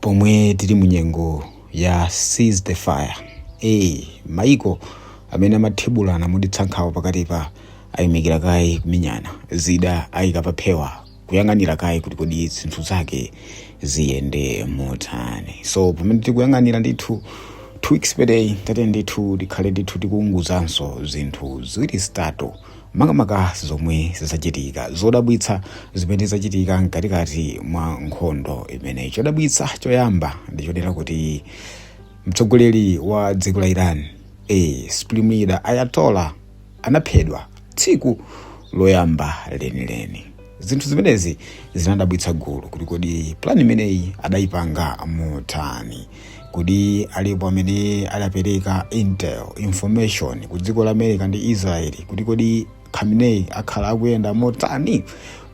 pomwe tili mu nyengo ya ceasefire e maiko amene amathibulana mu Middle East kuja pakati pa ayimikira kaye kumenyana zida ayika paphewa kuyang'anira kaye kuti kodi zinthu zake ziyende motani so pamene tikuyang'anira ndithu two weeks per day tate ndithu tikhale ndithu tikuwunguzanso zinthu ziwiri zitatu makamaka zomwe zachitika zodabwitsa zimene zachitika mkatikati mwa nkhondo imeneyi chodabwitsa choyamba ndi chonena kuti mtsogoleri wa dziko la iran e supreme leader Ayatollah anaphedwa tsiku loyamba lenileni zinthu zimenezi zinadabwitsa gulu kuti kodi plani imeneyi adayipanga motani kodi alipo amene adapereka intel information ku dziko la america ndi israeli kuti kodi khamenei akhala akuyenda motani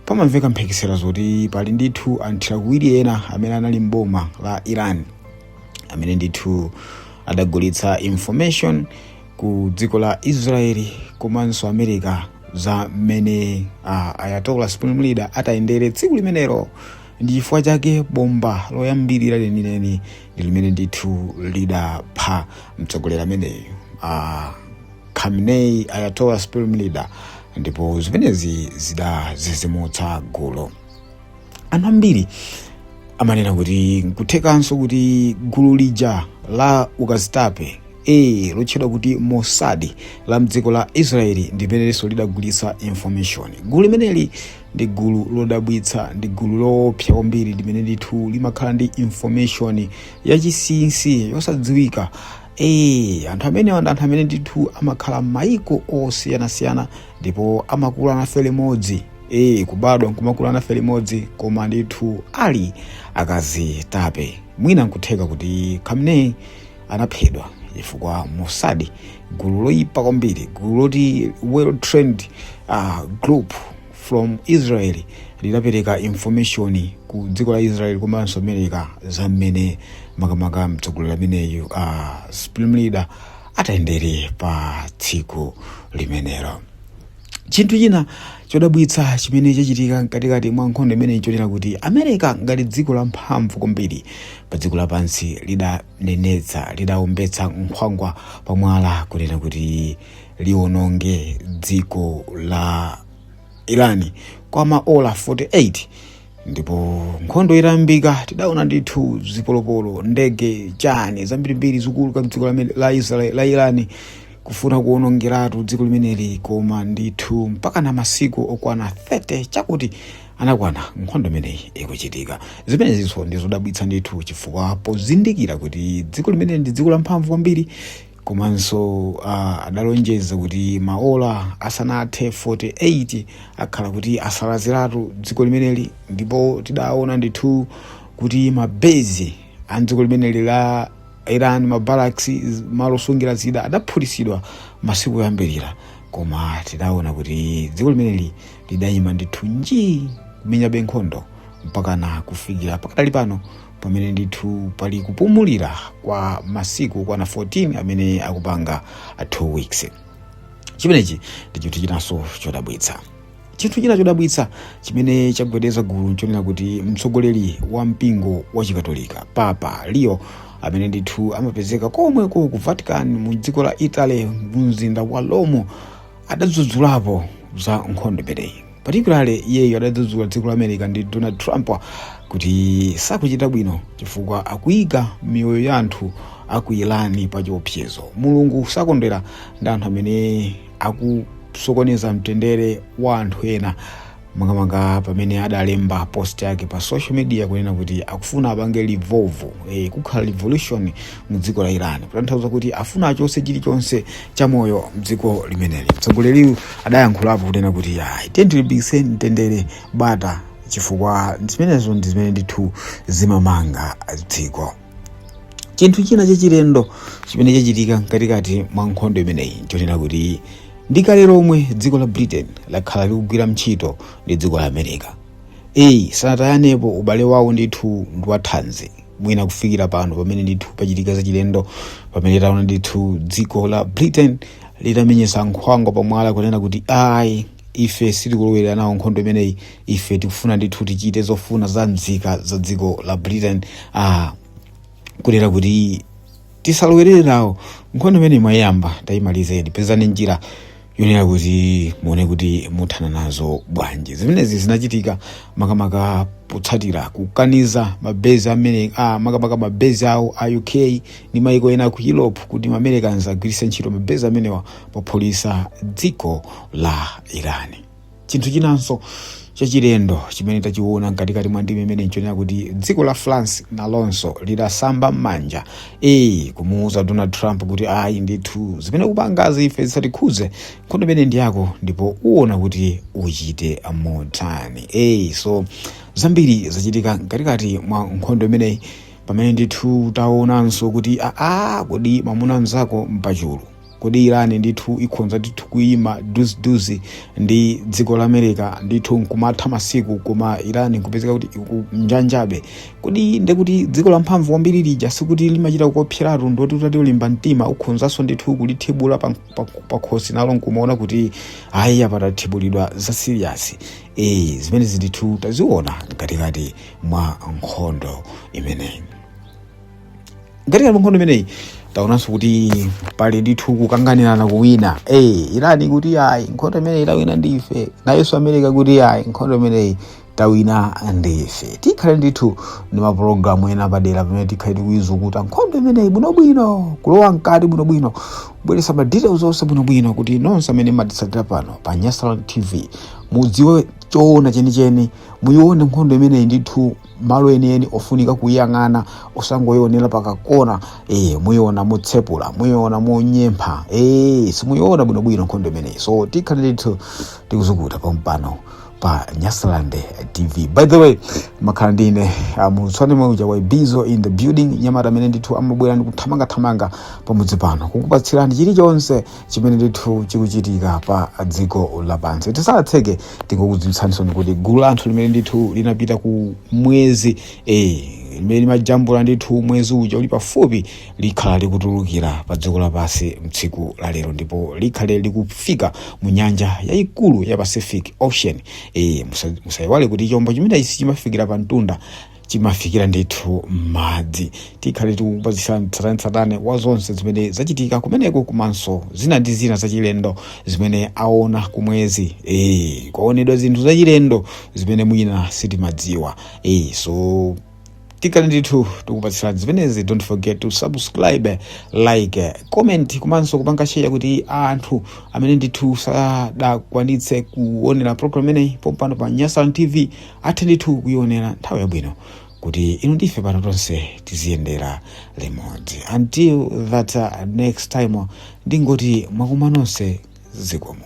pamamveka mphekesera zoti pali ndithu anthu awiri ena amene anali mboma la iran amene ndithu adagulitsa information ku dziko la israeli komanso america za mmene uh, Ayatollah supreme leader atayendere tsiku limenelo ndi chifukwa chake bomba loyambirira lenileni ndi limene ndithu lidapha mtsogoleri ameneyu uh, khamenei Ayatollah supreme leader ndipo zimenezi zidadzidzimutsa gulu anthu ambiri amanena kuti nkuthekanso kuti gulu lija la ukazitape e lotchedwa kuti Mossad la mdziko la israeli ndi limenenso lidagulitsa information gulu limeneli ndi gulu lodabwitsa ndi gulu loopsa kwambiri limene ndithu limakhala ndi information yachisinsi yosadziwika ee anthu amenewa ndi anthu amene ndithu amakhala m'mayiko osiyanasiyana ndipo amakula nafe limodzi ee kubadwa nkumakula nafe limodzi koma ndithu ali akazitape mwina nkutheka kuti Khamenei anaphedwa chifukwa Mossad gulu loyipa kwambiri gulu loti well trained uh, group from Israel lidapereka information ku dziko la Israel komanso America za mmene makamaka mtsogoleri ameneyu uh, supreme leader atayendere pa tsiku limenelo Chinthu china chodabwitsa chimene chachitika mkatikati mwa nkhondo imeneyi chonena kuti America ngati dziko la mphamvu kwambiri pa dziko lapansi lidanenetsa lidaombetsa nkhwangwa pa mwala kunena kuti liwononge dziko la Irani kwa maola 48 ndipo nkhondo itayambika tidaona ndithu zipolopolo ndege chani zambirimbiri zikuluka mdziko la a- la irani kufuna kuonongeratu dziko limeneli koma ndithu mpaka na masiku okwana 30 chakuti anakwana nkhondo imeneyi ikuchitika zimenezinso ndizodabwitsa ndithu chifukwa pozindikira kuti dziko limeneli ndi dziko lamphamvu kwambiri komanso uh, adalonjeza kuti maola asanathe 48 akhala kuti asalaziratu dziko limeneli ndipo tidaona ndithu kuti mabezi a dziko limeneli la iran mabaraks malo osungira zida adaphulitsidwa masiku oyambirira koma tidaona kuti dziko limeneli lidayima ndithu nji kumenyabe nkhondo mpakana kufikira pakadali pano pamene ndithu pali kupumulira kwa masiku okwana 14 amene akupanga 2 weeks chimenechi ndi chinthu chinanso chodabwitsa chinthu china chodabwitsa chimene chagwedeza gulu nchonena kuti mtsogoleri wa mpingo wa chikatolika papa leo amene ndithu amapezeka komweko ku vatican mu dziko la italy mu mzinda wa rome adadzudzulapo za nkhondo imeneyi particularly iyeyo adadzudzula dziko la america ndi donald trump kuti sakuchita bwino chifukwa akuyika miyoyo ya anthu aku iran pa chiopsezo mulungu sakondwera ndi anthu amene akusokoneza mtendere wa anthu ena makamaka pamene adalemba post yake pa social media kunena kuti akufuna apange revolve eh, kukhala revolution mu dziko la iran kutanthauza kuti afuna achose chilichonse cha moyo mdziko limeneli mtsogoleriyu adayankhulapo kunena kuti ayi tiyeni tilimbikitse mtendere bata chifukwa zimenezo ndi zimene ndithu zimamanga dziko chinthu china chachilendo chimene chachitika mkatikati mwa nkhondo imeneyi nchonena kuti ndi kale lomwe dziko la britain lakhala likugwira ntchito ndi dziko la america Eyi sanatayanepo ubale wawo ndithu ndiwathanzi mwina kufikira pano pamene ndithu pachitika zachilendo pamene taona ndithu dziko la britain litamenyesa nkhwangwa pamwala kunena kuti ayi ife sitikulowerera nawo nkhondo imeneyi ife tikufuna ndithu tichite zofuna za mzika za dziko la britain ah, kunena kuti tisalowerere nawo nkhondo imene mwayamba tayimalizeni pezani njira yoonera kuti muone kuti muthana nazo bwanji zimenezi zinachitika makamaka potsatira kukaniza mabezi amene ah, makamaka mabezi awo a uk ndi maiko ena ku europe kuti maamericans agwiritse ntchito mabezi amenewa pophulitsa dziko la irani chinthu chinanso chachilendo chimene tachiona mkatikati mwa ndime imene nchonena kuti dziko la france nalonso lidasamba m'manja ee kumuuza donald trump kuti ayi ndithu zimene ukupangazi ife zisatikhudze nkhondo imeneyi ndi yako ndipo uona kuti uchite motani ee so zambiri zachitika mkatikati mwa nkhondo imeneyi pamene ndithu taonanso kuti aa kodi mwamuna mzako mpachulu kodi iran ndithu ikhonza ndithu kuyima duziduzi ndi dziko la america ndithu nkumatha masiku koma iran nkupezeka kuti ikunjanjabe kodi ndekuti dziko la mphamvu kwambiri lija sikuti limachita kuopsezatu ndoti utati ulimba mtima ukhonzanso ndithu kulitibula pa- pa- pakhosi nalo nkumaona kuti ayi apa tatibulidwa za siriyasi e, zimenezi ndithu taziona mkatikati mwa nkhondo imeneyi mkatikati mwa nkhondo imeneyi taonanso kuti pali ndithu kukanganirana kuwina eh iran ikuti ayi nkhondo imeneyi tawina ndife nayenso america akuti ayi nkhondo imeneyi tawina ndife tikhale ndithu ndi mapulogalamu ena padera pamene tikhale tikuizukuta nkhondo imeneyi bwinobwino kulowa mkati bwinobwino kubweretsa ma details onse bwinobwino kuti nonse amene mumatitsatira pano pa nyasaland tv mudziwe choona chenicheni muyione nkhondo imeneyi ndithu malo enieni ofunika kuyiyang'ana osangoyiwonera pakakona e, muyiona motsepula muyiona monyempha e, simuyiona bwinobwino nkhondo imeneyi so tikhale ndithu tikuzukuta pampano pa nyasaland tv by the way amakhala ndine mulutswane mauja wa bizo in the building mnyamata amene ndithu amabwera ndikuthamangathamanga pamudzi pano kukupatsirani chilichonse chimene ndithu chikuchitika pa dziko lapansi tisanatseke tingokudziwitsaninsoni kuti gulu la anthu limene ndithu linapita ku mwezi eh, limene limajambula ndithu mwezi uja uli pafupi likhala likutulukira pa dziko lapansi mtsiku la lero ndipo likhale likufika mu nyanja yayikulu ya pacific ocean eh, musa- musayiwale kuti chombo chimenechi sichimafikira pa mtunda chimafikira ndithu m'madzi tikhale tikupatsirani tsatanetsatane wa zonse zimene zachitika kumeneko komanso zina ndi zina zachilendo zimene aona kumwezi e, kwaonedwa zinthu zachilendo zimene mwina sitimadziwa e, so tikhale ndithu tikupatsirani zimenezi don't forget to subscribe like comment komanso kupanga share kuti anthu amene ndithu sadakwanitse kuonera program imeneyi pompano pa nyasaland tv athe ndithu kuionera nthawi yabwino kuti inu ndi ife pano tonse tiziyendera limodzi until that uh, next time uh, ndingoti mwakuma nonse zikomo